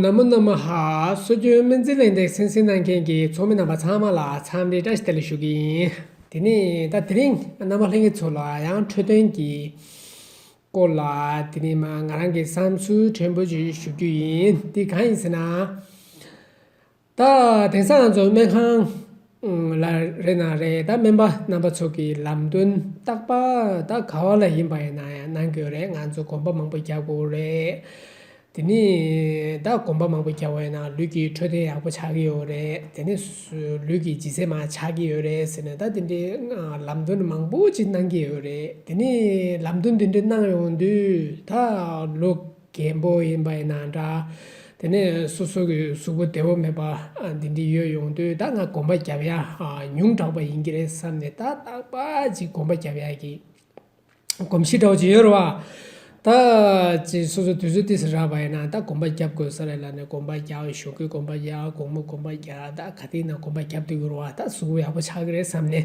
ནམོ་ནམོ་ཧཧཧ་སྲོལ་རྒྱུན་སྨན་རྩིས་ལས་འདེགས་སེམས་གསེང་གནང་མཁན་གྱི་ཚོགས་མི་རྣམ་པ་ཚང་མ་ལ་འཚམས་འདྲི་བཀྲ་ཤིས་བདེ་ལེགས་ཞུ་གི་ཡིན། དེ་ནས་ད་དེ་རིང་རྣམ་པ་ལྷན་རྒྱས་ཚོ་ལ་ཡང་འཕྲོས་དོན་གྱི་སྐོར་ལ་དེ་རིང་ང་རང་གི་བསམ་ཚུལ་ཕྲན་བུ་ཞིག་ཞུ་རྒྱུ་ཡིན་དེ་གང་ཡིན་ཟེར་ན། ད་དེང་སང་ང་ཚོ་སྨན་ཁང་ལ་རེ་ན་རེ་ད་སྨན་པ་རྣམ་པ་ཚོ་གི་ལམ་སྟོན་བརྟག་པ་ད་ག་བ་ལ་ཡིན་པ་ཡིན་ན་ཡང་གནང་དགོས་རེད་ང་ཚོ་གོམ་པ་མང་པོ་རྒྱག་དགོས་རེད། དེ་ནས་ད་གོམ་པ་མང་པོ་རྒྱག་པ་ཡིན་ན་ལུས་ཀྱི་འཕྲོད་བསྟེན་ཡག་པོ་ཆགས་ཀྱི་ཡོད་རེད་དེ་ནས་ལུས་ཀྱི་ལྗིད་ཚད་མ་ཆགས་ཀྱི་ཡོད་རེད་ཟེར་ནས་ད་དེ་འདྲའི་ལམ་སྟོན་མང་པོ་ཞིག་གནང་གི་ཡོད་རེད་དེ་ནས་ལམ་སྟོན་དེ་འདྲ་གནང་ཡོང་དུས་ད་ལོ། རྒྱལ་པོ་ཡིན་པ་ཡིན་ན་འདྲ། དེ་ནས་སོ་སོ་གི་གཟུགས་པོ་བདེ་བོ་མེད་པ་འདི་འདྲའི་ཡོད་ཡོང་དུས་ད་ང་གོམ་པ་བརྒྱབ་ཡ་ཉུང་དྲགས་པ་ཡིན་གྱི་རེད་བསམ་ནས་ད་ཏག་པ་ཅིག་གོམ་པ་བརྒྱབ་ཡ་གི། གོམ་གཤིས་འདྲ་བོ་ཅིག་ཡོད་རེད་བ། ད་ཅིག་སོ་སོ་དུས་ཚོད་དེ་སུ་རག་པ་ཡིན་ན་ད་གོམ་པ་བརྒྱབ་དགོས་ས་རེད་ལབ་ནས་གོམ་པ་བརྒྱབ་གཞུག་གི་གོམ་པ་བརྒྱབ་གོང་མོ་གོམ་པ་བརྒྱབ་ད་ག་དུས་ན་གོམ་པ་བརྒྱབ་ཏུ་ཡོང་རུང་བ་ད་གཟུགས་པོ་ཡག་པོ་ཆགས་ཀྱི་རེད་བསམ་ནས།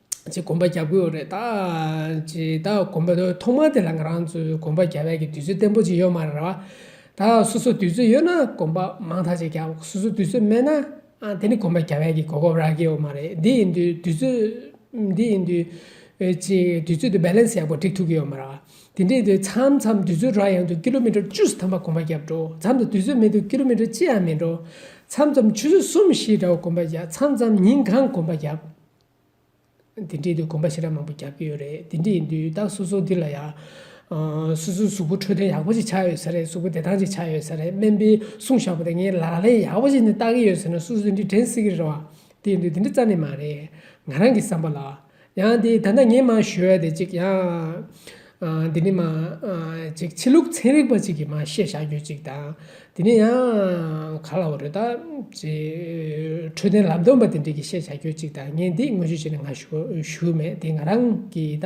ཅེས་དགོངས་པ་བརྒྱ་བསྐུར་བ་རེད། ཅེས་བདག་དགོངས་པ་ཐོག་མ་དེ་ལ་ང་རང་ཚོས་དགོངས་པ་བརྒྱ་བས་ཀྱི་དུས་ཚོད་བརྟན་པོ་ཅིག་ཡོད་མ་རེད་བ། ད་སོ་སོར་དུས་ཚོད་ཡོད་ན་དགོངས་པ་མང་དག་ཅིག་རྒྱབ་སོ་སོར་དུས་ཚོད་མེད་ན་དེ་ནི་དགོངས་པ་བརྒྱ་བས་ཀྱི་གོ་སྐབས་རག་གི་ཡོད་མ་རེད། འདི་ཡིན་དུས་དུས་ཚོད་འདི་ཡིན་དུས་ཅེས་དུས་ཚོད་དུ balance ཡག་པོ་སྒྲིག་ཐུབ་ཀྱི་ཡོད་མ་རེད་བ། དེ་འདྲའི་དུས་མཚམས་མཚམས་དུས་ཚོད་རག་ཡོང་དུས་ཀི་ལོ་མི་ཀྲོ་བཅུ་གསུམ་ཐམ་པ་དགོངས་པ་བརྒྱ་བགྲོ་མཚམས་དུ་དུས་ཚོད་མེད་དུས་ཀི་ལོ་མི་ཀྲོ་གཅིག་ཡང་མི་འགྲོ། མཚམས་མཚམས་ཆུ་ཚོད་གསུམ་བཞི་འདྲ་བ་དགོངས་པ་བརྒྱ་མཚམས་མཚམས་ཉིན་གང་དགོངས་པ་བརྒྱ། འདི་འདྲའི་དུས་གོམ་པ་ཞེ་དྲག་མང་པོ་རྒྱག་གི་ཡོད་རེད་འདི་འདྲ་ཡིན་དུས་ད་སོ་སོ་འདི་ལ་ཡང། སོ་སོའི་གཟུགས་པོ་འཕྲོད་བསྟེན་ཡག་པོ་ཞིག་ཆགས་ཡོད་ས་རེད་གཟུགས་པོ་བདེ་ཐང་ཞིག་ཆགས་ཡོད་ས་རེད་སྨན་པས་གསུངས་བཞག་པ་དེ་ངས་ལག་ལེན་ཡག་པོ་ཞིག་ནས་བསྟར་གི་ཡོད་ཟེར་ན་སོ་སོ་འདི་འདྲ་དྲན་སྲིད་ཀྱི་རེད་བ། དེ་ཡིན་དུས་འདི་འདྲ་རྩ་ནས་མ་རེད་ང་རང་གི་བསམ་པ་ལ། ཡང་དེ་ད་ལྟ་ངས་མང་ཞུས་ཡ་དེ་གཅིག་ཡང། འདི་ནི་མ་ཅིག་ཕྱི་ལུགས་ཚན་རིག་པ་ཅིག་གིས་མ་ཤེས་བཞག་ཡོད་ཅིག་དང། འདི་ནི་ཡང་ག་ལ་བ་རེད་ད། འཕྲོད་བསྟེན་ལམ་སྟོན་པ་དེ་འདྲས་ཀྱིས་ཤེས་བཞག་ཡོད་ཅིག་དང་ངས་འདི་དངོས་གཞི་བྱས་ནས་ང་ཞུ་མེད་དེ་ང་རང་གི་ད།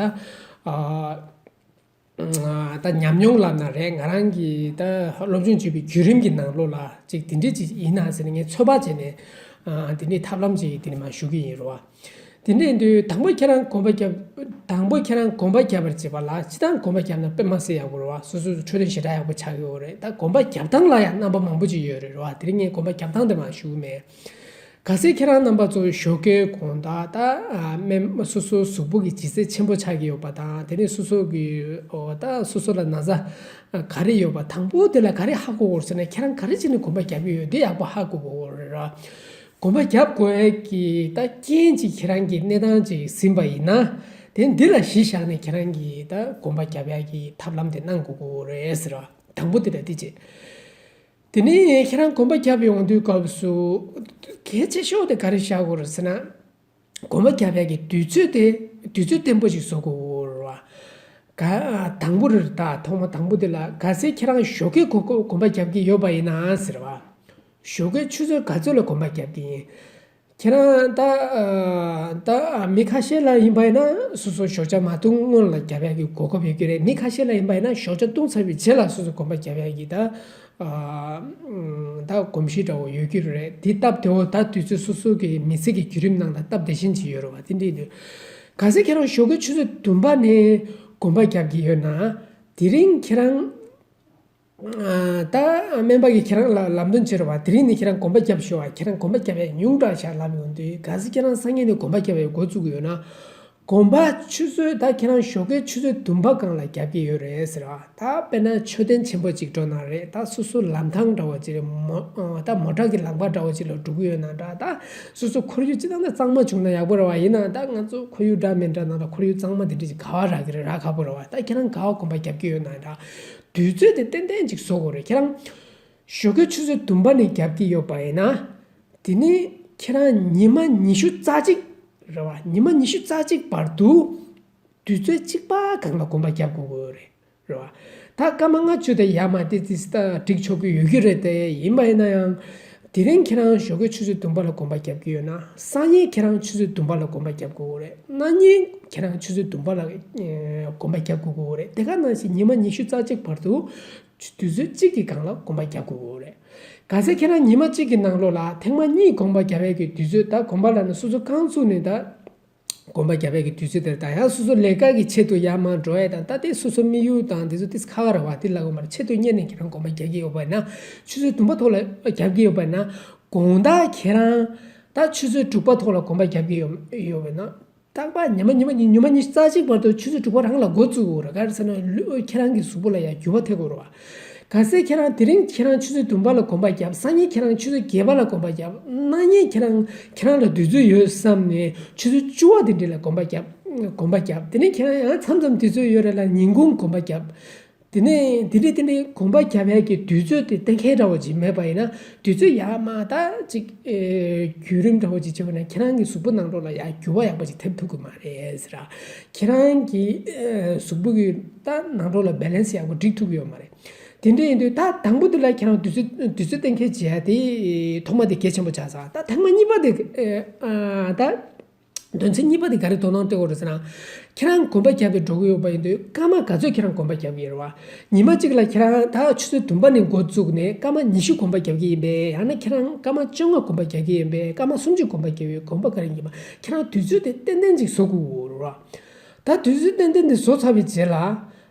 ད་ཉམས་མྱོང་ལབ་ན་རེད་ང་རང་གི་ད་སློབ་སྦྱོང་བྱས་པའི་བརྒྱུད་རིམ་གྱི་ནང་ལོགས་ལ་ཅིག་དེ་འདྲས་ཅིག་ཡིན་ན་ཟེར་ནས་ངས་ཚོད་དཔག་བྱས་ནས་འདི་ནི་ཐབས་ལམ་ཅིག་འདི་ནི་མ་ཞུ་གི་ཡིན་རུང་བ། དེ་ནས་དུས་དང་པོ་ཁྱེད་རང་གོམ་པ་རྒྱབ། དང་པོ་ཁྱེད་རང་གོམ་པ་རྒྱབ་པར་བྱེད་པ་ལ་ཕྱི་དང་གོམ་པ་རྒྱབ་ན་དཔེ་མ་སེ་ཡག་པོ་རེད་བ་སོ་སོས་འཕྲོས་དོན་ཞེ་དྲག་ཡག་པོ་ཆགས་ཡོད་རེད་ད་གོམ་པ་རྒྱབ་སྟངས་ལ་ཡང་རྣམ་པ་མང་པོ་ཅིག་ཡོད་རེད་བ་དེར་ངས་གོམ་པ་རྒྱབ་སྟངས་དེ་མ་ཞུ་མེད། ག་སེ་ཁྱེད་རང་རྣམ་པ་ཚོ་ཞོགས་ཀའི་གོང་ད་ད་སྨན་མ་སོ་སོའི་གཟུགས་པོ་གི་ལྗིད་ཚད་ཆེན་པོ་ཆགས་ཀྱི་ཡོད་པ་དང་དེ་ནས་སོ་སོ་གི་འོ་ད་སོ་སོ་ལ་ན་བཟའ་ག་རེ་ཡོད་པ་དང་པོ་དེ་ལ་ག་རེ་ཧ་གོ་དགོས་རེད་ཟེར་ན་ཁྱེད་རང་ག་རེ་བྱས་ནས་གོམ་པ་རྒྱབ་ཀྱི་ཡོད་དེ་ཡག་པོ་ཧ་གོ་དགོས་རེད་བ། གོམ་པ་བརྒྱབ་དགོས་ཀྱི་ད་རྐྱེན་ཅིག་ཁྱེད་རང་གི་གནས་སྟངས་ཅིག་ཟིན་པ་ཡིན་ན། དེ་འདི་ལ་གཞི་བཞག་ནས་ཁྱེད་རང་གི་ད་གོམ་པ་བརྒྱབ་ཡག་གི་ཐབས་ལམ་དེ་གནང་དགོས་ཀྱི་རེད་ཟེར་བ་དང་པོ་དེ་རེད་དེ་གཅིག། དེ་ནས་ཁྱེད་རང་གོམ་པ་བརྒྱབ་ཡོང་དུས་སྐབས་སུ། གལ་ཆེ་ཤོས་དེ་ག་རེ་བྱ་དགོས་རེད་ཟེར་ན། སྒོ་མོ་བརྒྱ་ཕྲག་གི་དུས་ཚོད་དེ་དུས་ཚོད་བརྟན་པོ་ཞིག་བཟོ་དགོས། ག། དང་པོ་རེ་རེ་དང་ཐོག་མ་དང་པོ་དེ་ལ་ག་ཚད་ཁྱེད་རང་ཞོགས་ཀའི་གོ་སྐབས་གོམ་པ་རྒྱབ་ཀྱི་ཡོད་པ་ཡིན་ན་ཟེར་བ། ཞོགས་ཀའི་ཆུ་ཚོད་ག་ཚོད་ལ་གོམ་པ་རྒྱབ་ཀྱི་ཡིན། ཁྱེད་རང་ད། ད་མི་ཁ་ཤས་ལ་ཡིན་པ་ཡིན་ན་སོ་སོ་ཞོགས་ཆ་མ་བཏུང་སྔོན་ལ་རྒྱ་བལ་གྱི་གོ་སྐབས་ཡོད་ཀྱི་རེད་མི་ཁ་ཤས་ལ་ཡིན་པ་ཡིན་ན་ཞོགས་ཆ་བཏུང་ཚར་བའི་རྗེས་ལ་སོ་སོ་གོམ་པ་རྒྱ་བལ་གྱི་ད། ད་གོམས་གཤིས་འདྲ་བོ་ཡོད་རྒྱུ་རེད། དེ་སྟབས་དེ་འོ་ད་དུས་ཚོད་སོ་སོའི་གི་མི་ཚེ་གི་བརྒྱུད་རིམ་ནང་ད་སྟབས་དེ་བཞིན་ཅིག་ཡོད་རུང་བ་དེ་འདྲའི་དུས། ག་ཚད་ཁྱེད་རང་ཞོགས་ཀྱི་ཆུ་ཚོད་བདུན་པ་ནས་གོམ་པ་རྒྱག་གི་ཡོད་ན། དེ་རིང་ཁྱེད་རང། ད་སྨན་པ་གི་ཁྱེད་རང་ལ་ལམ་སྟོན་བྱེད་རུང་བ་དེ་རིང་ནས་ཁྱེད་རང་གོམ་པ་རྒྱབ་ཞོག་ཁྱེད་རང་གོམ་པ་རྒྱབ་ཡ་ཉུང་དྲག་ཆགས་ལབ་ཡོང་དུས་ག་ཚད་ཁྱེད་རང་སང་ཉིན་ནས་གོམ་པ་རྒྱབ་ཡའི་འགོ་བཙུགས་ཡོད་ན། དགོངས་པ་ཆུ་ཚོད་ད་ཁྱེད་རང་ཞོགས་ཀའི་ཆུ་ཚོད་དུམ་པ་གང་ལ་རྒྱབ་ཀྱི་ཡོད་རེད་ཟེར་བ་ད་དཔེར་ན་མཆོད་རྟེན་ཆེན་པོ་ཅིག་འགྲོ་ན་རེད་ད་སོ་སོ་ལམ་ཐང་འདྲ་བོ་ཅིག་མོ་ད་མོ་བྲག་གི་ལང་པ་འདྲ་བོ་ཅིག་ལ་འགྲོ་གི་ཡོད་ན་འདྲ་ད་སོ་སོ་ཁོར་ཡུག་ཅི་ཐང་ད་གཙང་མ་བྱུང་ན་ཡག་པོ་རེད་བ་ཡིན་ན་ད་ང་ཚོ་ཁོར་ཡུག་འདྲ་མིན་འདྲ་ན་ད་ཁོར་ཡུག་གཙང་མ་དེ་འདྲ་ཅིག་ག་བ་རག་གི་རེད་རག་ཁག་པོ་རེད་བ་ད་ཁྱེད་རང་ག་བ་དགོངས་པ་རྒྱབ་ཀྱི་ཡོད་ན་འདྲ། དུས་ཚོད་དེ་ཏན་ཏན་ཅིག་བཟོ་དགོས་རེད་ཁྱེད་རང། ཞོ་ཁའི་ཆུ་ཚོད་དུམ་པ་ནས་བརྒྱབ་ཀྱི་ཡོད་པ་ཡིན་ན། དེ་ནས་ཁྱེད་རང་ཉི་མ་ཉི་ཤུ་རྩ་གཅིག། རེད་བ། ཉི་མ་ཉི་ཤུ་རྩ་གཅིག་བར་དུ། དུས་ཚོད་གཅིག་པ་གང་ལ་གོམས་པ་བརྒྱབ་དགོས་ཀྱི་རེད། རེད་བ། ད་སྐར་མ་ལྔ་བཅུ་དེ་ཡར་མ་དེ་ཙིས་ད་བསྒྲིགས་ཆོག་གི་ཡོད་ཀྱི་རེད་དེ་ཡིན་པ་ཡིན་ན་ཡང། དེ་རིང་ཁྱེད་རང་ཞོ་ཁའི་ཆུ་ཚོད་དུམ་པ་ལ་གོམས་པ་བརྒྱབ་ཀྱི་ཡོད་ན་སང་ཉིན་ཁྱེད་རང་ཆུ་ཚོད་དུམ་པ་ལ་གོམས་པ་བརྒྱབ་དགོས་ཀྱི་རེད་གནངས་ཉིན་ཁྱེད་རང་ཆུ་ཚོད་དུམ་པ་ལ་གོམས་པ་བརྒྱབ་དགོས་ཀྱི་རེད་དེ་ག་ནང་བཞིན་ཉི་མ་ཉི་ཤུ་རྩ་གཅིག་བར་དུ། ཆུ་དུས་ཚོད་གཅིག་གི་སྒང་ལ་སྒོམ་པ་བརྒྱག་དགོས་འོ་རེད། ག་ཚད་ཁྱེད་རང་ཉིན་མ་གཅིག་གི་ནང་ལོགས་ལ་ཐེངས་མ་གཉིས་སྒོམ་པ་བརྒྱ་བས་ཀྱི་དུས་ཚོད་ད་སྒོམ་པ་ལ་ནི་སོ་སོ་རྐང་ཚུགས་ནས་ད་སྒོམ་པ་བརྒྱ་བས་ཀྱི་དུས་ཚོད་དེར་ད་ཡང་སོ་སོ་ལས་ཀ་གི་ཆེད་དུ་ཡར་མར་འགྲོ་ཡས་དང་ད་ལྟའི་སོ་སོ་མི་ཡུལ་དང་འདི་ཚོ་ཏིས་ཁ་ག་ར་བ་ཏིས་ལ་གོ་མ་ར་ཆེད་དུ་གཉེར་ནས་ཁྱེད་རང་སྒོམ་པ་བརྒྱག་གི་ཡོད་པས་ན་ཆུ་ཚོད་དུམ་པ་ཐོག་ལ་བརྒྱག་གི་ཡོད་པས་ན་དགོངས་དག་ཁྱེད་རང་ད་ཆུ་ཚོད་དྲུག་པ་ཐོག་ལ་སྒོམ་པ་བརྒྱག་གི་ཡོད་པས་ན། རྟག་པ་ཉི་མ་ཉི་མ་གཉིས་ཉི་མ་གཉིས་རྩ་གཅིག་བར་དུ་ཆུ་ཚོད་དྲུག་པ་རང་ལ་འགོ་བཙུགས་དགོས་ར་ག་རེ་ཟེར་ན་ལུས་ཁྱེད་རང་གི་གཟུགས་པོ་ལ་ཡང་འགྱུར་བ་ཐེབས་དགོས་ར་བ། ག་ཟེ་ཁྱེད་རང་དེ་རིང་ཁྱེད་རང་ཆུ་ཚོད་བདུན་པ་ལ་གོམ་པ་བརྒྱབ་སང་ཉིན་ཁྱེད་རང་ཆུ་ཚོད་བརྒྱད་པ་ལ་གོམ་པ་བརྒྱབ་གནངས་ཉིན་ཁྱེད་རང་ཁྱེད་རང་ལ་བདུད་རྩི་ཡོད་བསམ་ནས་ཆུ་ཚོད་བཅུ་བ་དེ་འདྲི་ལ་གོམ་པ་བརྒྱབ་གོམ་པ་བརྒྱབ་དེ་ནས་ཁྱེད་རང་ཡང་མཚམས་མཚམས་དེ་ཚོད་ཡོད་ར་ལ་ཉིན་གུང་གོམ་པ་བརྒྱབ་དེ་ནས་དེ་འདྲའི་དེ་འདྲའི་དགོངས་པ་རྒྱ་བལ་གྱི་དུས་ཚོད་དེ་གཏན་འཁེལ་འདྲ་བོ་ཅིག་མེད་པ་ཡིན་ན་དུས་ཚོད་ཡག་མ་ད་ཅིག་བརྒྱུད་རིམ་འདྲ་བོ་ཅིག་བྱེད་པ་ན་ཁྱེད་རང་གི་གཟུགས་པོ་ནང་འགྲོ་ལ་ཡག་འགྱུར་བ་ཡག་པོ་ཅིག་ཐེབས་ཐུབ་གི་མ་རེད་ཟེར། ཁྱེད་རང་གི་གཟུགས་པོ་གི་ད་ནང་འགྲོ་ལ Balance ཡག་པོ་སྒྲིག་ཐུབ་གི་ཡོད་མ་རེད། དེ་འདྲ་ཡིན་དུས་ད་དང་པོ་དེ་ལ་ཁྱེད་རང་དུས་ཚོད་དུས་ཚོད་གཏན་འཁེལ་བྱས་ཏེ་ཐོག་མ་དེ་གལ་ཆེན་པོ་ཆགས་ས་ད་ཐེངས་མ་གཉིས་པ་དེ་ད། དོན་ཚན་གཉིས་པ་དེ་ག་རེ་དོ་སྣང་སྟེར་འོས་རེད་ཟེར་ན། ཁྱེད་རང་གོམ་པ་རྒྱབ་པའི་འགྲོ་གི་ཡོད་པ་ཡིན་དུས་སྐར་མ་ག་ཚོད་ཁྱེད་རང་གོམ་པ་རྒྱབ་ཀྱི་ཡིན་རེད་བ། ཉིན་མ་གཅིག་ལ་ཁྱེད་རང་ད་ཆུ་ཚོད་བདུན་པ་ནས་འགོ་བཙུགས་ནས་སྐར་མ་ཉི་ཤུ་གོམ་པ་རྒྱབ་ཀྱི་ཡིན་པས་ཡང་ན་ཁྱེད་རང་སྐར་མ་བཅོ་ལྔ་གོམ་པ་རྒྱག་གི་ཡིན་པས་སྐར་མ་སུམ་ཅུ་གོམ་པ་རྒྱབ་ཡོད་གོམ་པ་ག་རེ་ཡིན་པ་ཁྱེད་རང་དུས་ཚོད་དེ་ཏན་ཏན་ཅིག་བཟོ་དགོས་ཀྱི་ཡོད་རེད་བ། ད་དུས་ཚོད་ཏན་ཏན་དེ་བཟོ་ཚར་བའི་རྗེས་ལ།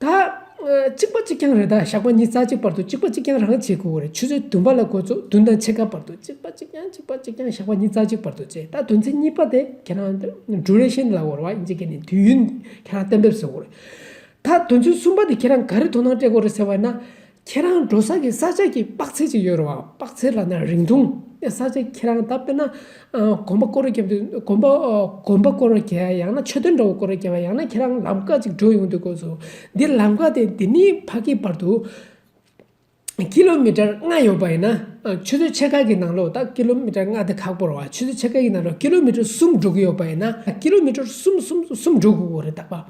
ད། གཅིག་པ་གཅིག་རྐྱང་རེ་ད་ཞགས་པ་གཉིས་རྩ་གཅིག་བར་དུ་གཅིག་པ་གཅིག་རྐྱང་རང་བྱེད་དགོས་རེད་ཆུ་ཚོད་བདུན་པ་ལ་དགོས་ཚོད་བདུན་དང་ཕྱེད་ཀ་བར་དུ་གཅིག་པ་གཅིག་རྐྱང་གཅིག་པ་གཅིག་རྐྱང་ཞགས་པ་གཉིས་རྩ་གཅིག་བར་དུ་བྱས་ད་དོན་ཚན་གཉིས་པ་དེ་ཁྱེད་རང་འབྲུ་རེ་ཤན་ལ་བོར་བ་ཡིན་ཅེས་སྐད་ནས་དུས་ཡུན་ཁྱེད་རང་གཏན་འབེབས་བཟོ་དགོས་རེད། ད་དོན་ཚན་གསུམ་པ་དེ་ཁྱེད་རང་ག་རེ་དོ་སྣང་སྤྲད་དགོས་རེད་ཟེར་བ་ཡིན་ན། ཁྱེད་རང་འགྲོ་ས་ཀྱི་ས་ཆ་གྱི་དཔག་ཚད་ཅིག་ཡོད་རུང་བ་དཔག་ཚད་ལ་ན་རིང་ཐུང་ས་ཆ་ཁྱེད་རང་ད་དཔེར་ན་གོམ་པ་སྐོར་རེ་བརྒྱབ་དུས་གོམ་པ་གོམ་པ་སྐོར་རེ་བརྒྱབ་ཡང་ན་མཆོད་རྟེན་འདྲ་བོ་སྐོར་རེ་བརྒྱབ་པ་ཡང་ན་ཁྱེད་རང་ལམ་ཀ་ཅིག་འགྲོ་ཡོང་དུས་དགོས་སོ། འདིར་ལམ་ཀ་དེ་འདི་ནས་ཕ་གིའི་བར་དུ་ཀི་ལོ་མི་ཀྲར་ལྔ་ཡོད་པ་ཡིན་ན། ཆུ་ཚོད་ཕྱེད་ཀ་གི་ནང་ལོགས་དང་ཀི་ལོ་མི་ཀྲར་ལྔ་དེ་ཁག་པོར་བར་ཆུ་ཚོད་ཕྱེད་ཀ་གི་ནང་ལོགས་ཀི་ལོ་མི་ཀྲར་གསུམ་འགྲོ་གི་ཡོད་པ་ཡིན་ན། ཀི་ལོ་མི་ཀྲར་གསུམ་གསུམ་གསུམ་འགྲོ་དགོས་ཀྱི་རེད་དག་པ།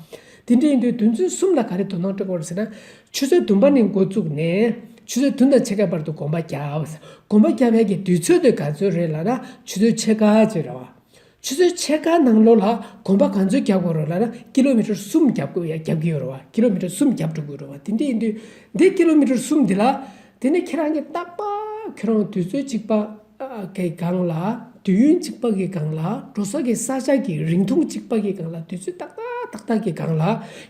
དེ་འདྲ་ཡིན་དུས་དོན་ཚུལ་གསུམ་ལ་ག་རེ་དོ་སྣང་སྤྲོད་དགོས་རེད་ཟེར་ན། ཆུ་ཚོད་བདུན་པ་ནས་མགོ་བཙུགས་ནས། ཆུ་ཚོད་བདུན་དང་ཕྱེད་ཀའི་བར་དུ་དགོངས་པ་བརྒྱ། དགོངས་པ་བརྒྱ་བརྒྱ་ཀྱི་དུས་ཚོད་དེ་ག་ཚོད་རེད་ལ་ན་ཆུ་ཚོད་ཕྱེད་ཀ་ཅིག་རེད་བ། ཆུ་ཚོད་ཕྱེད་ཀ་ནང་ལོགས་ལ་དགོངས་པ་ག་ཚོད་བརྒྱག་དགོས་རེད་ལ་ན་ཀི་ལོ་མི་ཀྲོར་གསུམ་བརྒྱབ་དགོས་བརྒྱབ་ཀྱི་ཡོད་རེད་བ། ཀི་ལོ་མི་ཀྲོར་གསུམ་བརྒྱབ་འགྲོ་དགོས་རེད་བ། དེ་འདྲ་ཡིན་དུས། འདི་ཀི་ལོ་མི་ཀྲོར་གསུམ་འདི་ལ། དེ་ནས་ཁྱེད་རང་གཉིས་རྟག་པ། ཁྱོད་རང་དུས་ཚོད་གཅིག་པ། གི་སྒང་ལ་དུས་ཡུན་གཅིག་པ་གི་སྒང་ལ་འགྲོ་སོགས་ཀྱི་ས་ཆ་གི་རིང་ཐུང་གཅིག་པ་གི་སྒང་ལ་དུས་ཚོད་ཏག་ཏག་ཏག་ཏག་གི་སྒང་ལ་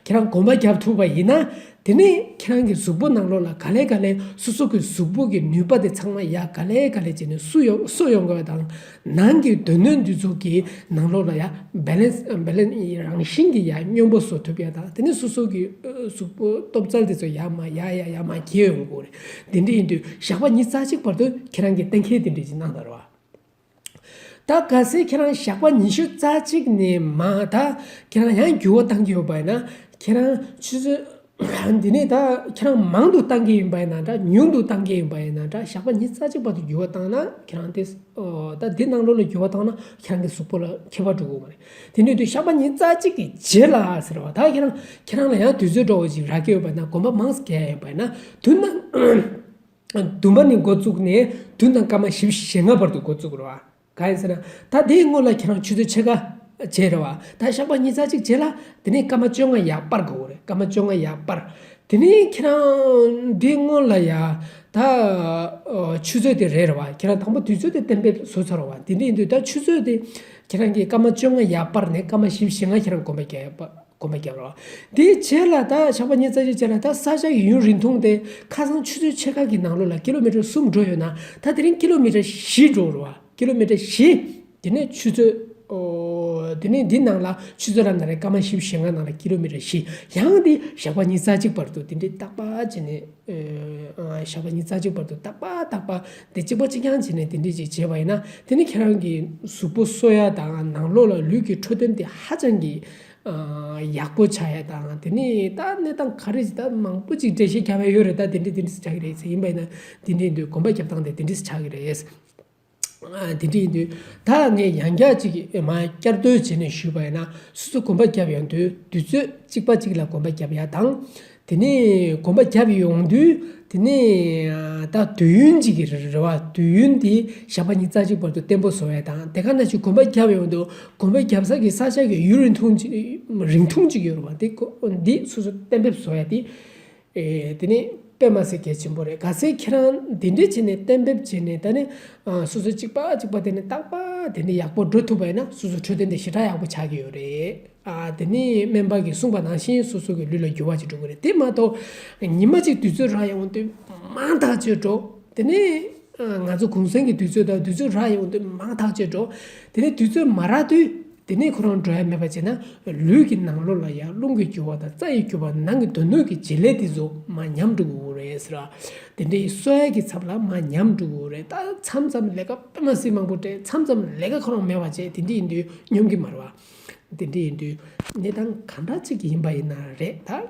ཁྱེད་རང་གོམ་པ་བརྒྱབ་ཐུབ་པ་ཡིན་ན་དེ་ནི་ཁྱེད་རང་གི་གཟུགས་པོ་ནང་ལོགས་ལ་ག་ལེ་ག་ལེ་སོ་སོ་གི་གཟུགས་པོ་གི་ནུས་པ་དེ་ཚང་མ་ཡ་ག་ལེ་ག་ལེ་བྱས་ནས་སུ་གསོ་ཡོང་དགོས་པ་དང་ནང་གི་དོན་སྣོད་འདུས་ཚོགས་ཀྱི་ནང་ལོགས་ལ་ཡ Balance ཡི་རང་བཞིན་གྱི་ཡ་སྙོམས་པོ་བཟོ་ཐུབ་ཡ་དང་དེ་ནི་སོ་སོ་གི་གཟུགས་པོ་སྟོབས་རྩལ་དེ་ཚོ་ཡ་མ་ཡ་ཡ་ཡ་མ་གྱེས་ཡོང་དགོས། དེ་འདྲ་ཡིན་དུས་ཞག་པ་ཉིས་རྩ་གཅིག་བར་དུ་ཁྱེད་རང་གིས་གཏན་འཁེལ་དེ་འདྲས་ཀྱི་གནང་དར་བ། ད་ག་ཚེ་ཁྱེད་རང་ཞག་པ་ཉི་ཤུ་རྩ་གཅིག་ནས་མ་ད་ཁྱེད་རང་ཡང་འགྱུར་བ་གཏང་གི་ཡོད་པ་ཡིན་ན་ཁྱེད་རང་ཆུ་ཚོད་འདི་ནས་ད་ཁྱེད་རང་མང་དུ་གཏང་གི་ཡིན་པ་ཡིན་ན་འདྲ་ཉུང་དུ་གཏང་གི་ཡིན་པ་ཡིན་ན་འདྲ་ཞག་པ་ཉིས་རྩ་གཅིག་བར་དུ་འགྱུར་བ་གཏང་ན་ཁྱེད་རང་དེ་ད་འདི་གནང་ལོ་ལ་འགྱུར་བ་གཏང་ན་ཁྱེད་རང་གི་གཟུགས་པོ་ལ་ཁྱད་པར་འགྲོ་དགོས་པ་རེད། དེ་ནས་དུས་ཞག་པ་གཉིས་རྩ་གཅིག་གི་རྗེས་ལ་ཟེར་བ་དག་ཁྱེད་རང་ཁྱེད་རང་ལ་ཡང་དུས་ཚོད་འགྲོ་བ་ཞིག་རག་གི་ཡོད་པ་ན་དགོན་པ་མང་ས་གས་ཡོད་པས་ན་དུས་ན་བདུན་པ་ནས་འགོ་བཙུགས་ནས་དུས་ན་སྐར་མ་བཞི་བཞི་ཞེ་ལྔ་བར་དུ་འགོ་བཙུགས་རོགས་ག་ཡིན་ཟེར་ན་ད་དེའི་སྔོན་ལ་ཁྱེད་རང་ཆུ་ཚོད་ཕྱེད་ཀ་བྱས་རེད་བ་ད་ཞག་པ་གཉིས་རྩ་གཅིག་རྗེས་ལ་དེ་ནས་སྐར་མ་བཅོ་ལྔ་ཡར་སྤར་དགོས་རེད་སྐར་མ་བཅོ་ལྔ་ཡར་སྤར་དེ་ནས་ཁྱེད་རང་དེའི་སྔོན་ལ་ཡང་ད་ཆུ་ཚོད་དེ་རེད་རེད་བ་ཁྱེད་རང་དང་པོ་དུས་ཚོད་དེ་གཏན་འབེབས་བཟོ་ཚར་བ་དེ་ནས་དུས་ད་ཆུ་ཚོད་དེ་ཁྱེད་རང་གིས་སྐར་མ་བཅོ་ལྔ་ཡར་སྤར་ནས་སྐར་མ་བཞི་བཞི་ལྔ་ཁྱེད་རང་གོམ་པ་བརྒྱབ་རོགས། དེ་བྱས་ལ་ད་ཞག་པ་གཉིས་རྩ་གཅིག་བྱས་ལ་ད་ས་ཆ་ཡུན་རིང་ཐུང་སྟེ་ཁ་སང་ཆུ་ཚོད་ཕྱེད་ཀ་གི་ནང་ལོ་ལ་ཀི་ལོ་མི་ཀྲ་གསུམ་འགྲོ་ཡོད་ན་ད་དེ་རིང་ཀི་ལོ་མི་ཀྲ་བཞི་འགྲོ་རོགས། ཀི་ལོ་མི་ཀྲ་བཞི། དེ་ནས་ཆུ་ཚོད། དེ་ནས་འདི་ནང་ལ་ཆུ་ཚོད་ར་ནང་རེད་སྐར་མ་བཞི་བཞི་ལྔ་ནང་ལ་ཀི་ལོ་མི་ཀྲ་བཞི། ཡང་འདི་ཞག་པ་གཉིས་རྩ་གཅིག་བར་དུ་འདི་འདྲའི་རྟག་པ་བྱས་ནས། ཞག་གཉིས་རྩ་གཅིག་བར་དུ་བརྟག་པ་བརྟག་པ། དེ་གཅིག་པ་གཅིག་རྐྱང་བྱས་ནས་དེ་འདྲས་ཅིག་བྱས་པ་ཡིན་ན་དེ་ནི་ཁྱེད་རང་གི་གཟུགས་པོ་གསོ་ཡ་དང་ནང་ལོགས་ལ་ལུས་ཀྱི་འཕྲོད་བསྟེན་དེ་ཧ་ཅང་གི་ཡག་པོ་བྱ་ཡ་དང་དེ་ནས་ད་གནས་སྟངས་ག་རེ་ད་མང་པོ་ཅིག་འགྲེལ་བཤད་བྱ་བ་ཡོད་རེད་ད་དེ་འདྲས་དེ་འདྲས་སུ་བྱ་གི་རེད་ཟེར་ཡིན་པ་ཡིན་ན་དེ་འདྲས་འདུག་གོམ་པ་རྒྱབ་སྟངས་དེ་དེ་འདྲས་སུ་ཆགས་ཀྱི་རེད། དེ་དྲིས་འདུག་ད་ངས་ཡང་བསྐྱར་ཅིག་བསྐྱར་ཟློས་བྱས་ནས་ཞུས་པ་ཡིན་ན་སུ་ཚོད་གོམ་པ་བརྒྱབ་ཡོང་དུས་དུས་ཚོད་གཅིག་པ་གཅིག་ལ་གོམ་པ་བརྒྱབ་ཡ་དང། དེ་ནས་གོམ་པ་བརྒྱབ་ཡོང་དུས་དེ་ནས་ད་དུས་ཡུན་གཅིག་གི་རེད་བ་དུས་ཡུན་དེ་ཞག་པ་གཉིས་རྩ་གཅིག་བར་དུ་བརྟན་པོ་བཟོ་བ་ཡ་དང་དེ་ག་ན་ཞིག་གོམ་པ་བརྒྱབ་ཡོང་དུས་གོམ་པ་བརྒྱབ་ས་གི་ས་ཆ་གི་ཡུན་རིང་ཐུང་གཅིག་ཡོད་རེད་བ་དེ་སུ་ཚོད་གཏན་འབེབས་བཟོ་ཡ་དེ། དེ་ནི་པད་མ་སེར་སྐྱའི་ཆེན་པོ་རེད་ག་ཚད་ཁྱེད་རང་འདི་འདྲས་བྱས་ནས་གཏན་འབེབས་བྱས་ནས་ད་ནི་སོ་སོ་གཅིག་པ་གཅིག་པ་དེ་ནི་རྟག་པ་དེ་ནི་ཡག་པོ་འགྲོ་ཐུབ་པ་ཡིན་ན་སོ་སོ་འཕྲོད་བསྟེན་དེ་ཞེ་དྲག་ཡག་པོ་ཆགས་ཀྱི་ཡོད་རེད་ཨ་དེ་ནི་སྨན་པ་གི་གསུངས་པ་ནང་བཞིན་སོ་སོ་གི་ལུས་ལ་འགྱུར་བ་ཅིག་འགྲོ་གི་རེད་དེ་མ་གཏོགས་ཉི་མ་གཅིག་དུས་ཚོད་རག་ཡོང་དུས་མང་ཐག་ཆོད་འགྲོ་དེ་ནི་ང་ཚོ་གུང་སེང་གི་དུས་ཚོད་དང་དུས་ཚོད་རག་ཡོང་དུས་མང་ཐག་ཆོད་འགྲོ་དེ་ནི་དུས་ཚོད་མ་རག་དུས་དེ་ནས་ཁོ་རང་འགྲོ་ཡ་མེད་པར་བྱས་ན་ལུས་ཀྱི་ནང་ལོགས་ལ་ཡང་རླུང་གི་རྒྱུ་བ་དང་རྩ་ཡི་རྒྱུ་བ་ནང་གི་དོན་སྣོད་ཀྱི་བྱེད་ལས་དེ་རྫོགས་མ་ཉམས་འགྲོ་གི་འོ་རེད། དེ་འདྲའི་གསོལ་ཡ་གྱི་ཚབ་ལ་མ་ཉམས་འགྲོ་གི་འོ་རེད་ད་མཚམས་མཚམས་ལས་ཀ་དཔེ་མ་སྲིད་མང་པོ་སྤྲད་མཚམས་མཚམས་ལས་ཀ་ཁོ་རང་མེད་པར་བྱས་དེ་འདྲས་ཡིན་དུས་སྙོམས་ཀྱི་མ་རེད་བ། དེ་འདྲས་ཡིན་དུས་གནས་སྟངས་གང་འདྲ་ཅིག་གི་ཡིན་པ་ཡིན་ན་རེད་ད།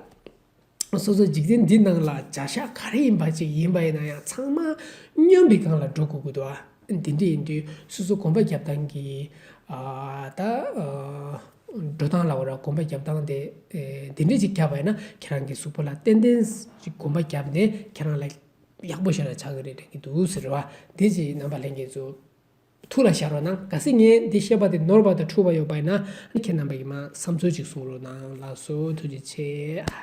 སོ་སོ་འཇིག་རྟེན་འདི་སྣང་ལ་བྱ་བཞག་ག་རེ་ཡིན་པ་ཅིག་ཡིན་པ་ཡིན་ན་ཡང་ཚང་མ་སྨྱོན་པའི་སྒང་ལ་འགྲོ་དགོས་ཀྱི་འདུག་ཨ། འདི་འདྲ་ཡིན་དུས་སོ་སོ་གོམ་པ་རྒྱབ་སྟངས་ཀྱི། ད། འགྲོ་སྟངས་ལ་ཨོ་ར་གོམ་པ་རྒྱབ་སྟངས་དེ་འདི་འདྲ་ཅིག་བརྒྱབ་པ་ཡིན་ན་ཁྱེད་རང་གི་གཟུགས་པོ་ལ་ཏན་ཏན་ཅིག་གོམ་པ་བརྒྱབ་ནས་ཁྱེད་རང་ལ་ཡག་པོ་ཞིག་ལ་ཆགས་ཀྱི་རེད་དྲན་གྱི་འདུག་ཟེར་བ་དེ་ཅིག་རྣམ་པ་ལེན་གྱི་འདུག་ཐུགས་ལ་ཤར་བ་ན་ག་སྲིད་ངས་འདི་བཤད་པ་དེ་ནོར་བ་དང་འཁྲུལ་བ་ཡོད་པ་ཡིན་ན་ཁྱེད་རྣམ་པ་ཡིས་མ་བསམ་ཚུལ་ཅིག་གསུང་རོགས་གནང་ལགས་སོ་ཐུགས་རྗེ་ཆེ།